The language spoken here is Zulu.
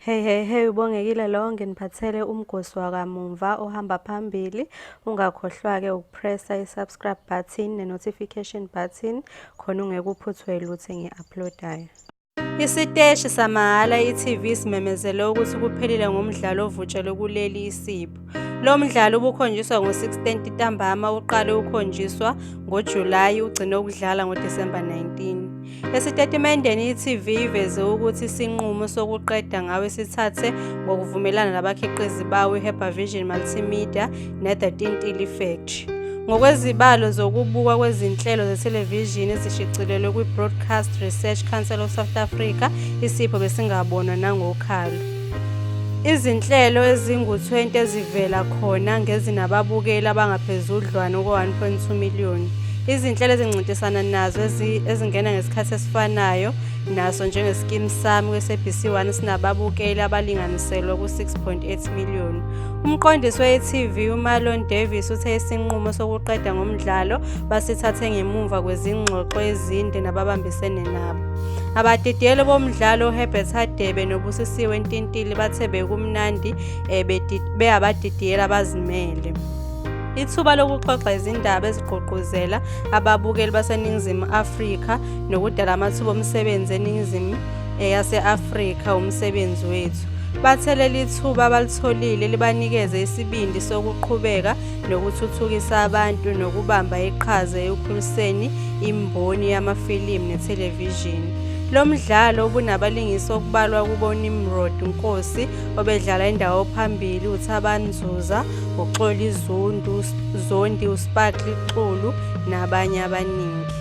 Hey hey hey ubongekile lo nginiphathele umgosi wakamumva ohamba phambili ungakhohlwa ke ukupressa i-subscribe button ne-notification button khona ungekuphuthwe lutho engi-uploadayo isiteshi samahhala i-tv simemezele ukuthi kuphelile ngomdlalo ovutshelwe kuleli isipho Lo mdlalo ubukhonjiswa ngo-16 ntambama uqale ukukhonjiswa ngoJulayi ugcine ukudlala ngoDisemba 19. Esitatimendeni i-TV iveze ukuthi isinqumo sokuqeda ngawe sithathe ngokuvumelana nabakhiqizi bawo i-Herba Vision Multimedia ne-The Tintili Factory. Ngokwezibalo zokubukwa kwezinhlelo zethelevishini ezishicilelwe kwi-Broadcast Research Council of South Africa, isipho besingabonwa nangokhalo. Izinhlelo ezingu-20 ezivela khona ngezinababukeli abangaphezudlwana kuka-1.2 million. Izinhlelo ezincintisana nazo ezingena ngesikhathi esifanayo naso njengeSkeem Saam kweSABC 1 esinababukeli abalinganiselwa ku-6.8 million. Umqondisi we-e.tv uMarlon Davies uthe isinqumo sokuqeda ngomdlalo basithathe ngemuva kwezingxoxo ezinde nababambisene nabo. Abadidiyeli bomdlalo uHerbert Hadebe noBusisiwe Ntintili bathe bekumnandi eh, beyabadidiyeli abazimele. Ithuba lokuxoxa izindaba ezigqugquzela ababukeli baseNingizimu Afrika nokudala amathuba omsebenzi eNingizimu eh, yase-Afrika umsebenzi wethu. Bathe leli thuba abalitholile libanikeze isibindi sokuqhubeka nokuthuthukisa abantu nokubamba iqhaza ekukhuliseni imboni yamafilimu nethelevishini. Lo mdlalo ubunabalingisi okubalwa kubo Nimrod Nkosi obedlala indawo phambili uThabani Zuza, uXoli Zundu, Zondi uSparkly Xulu nabanye abaningi.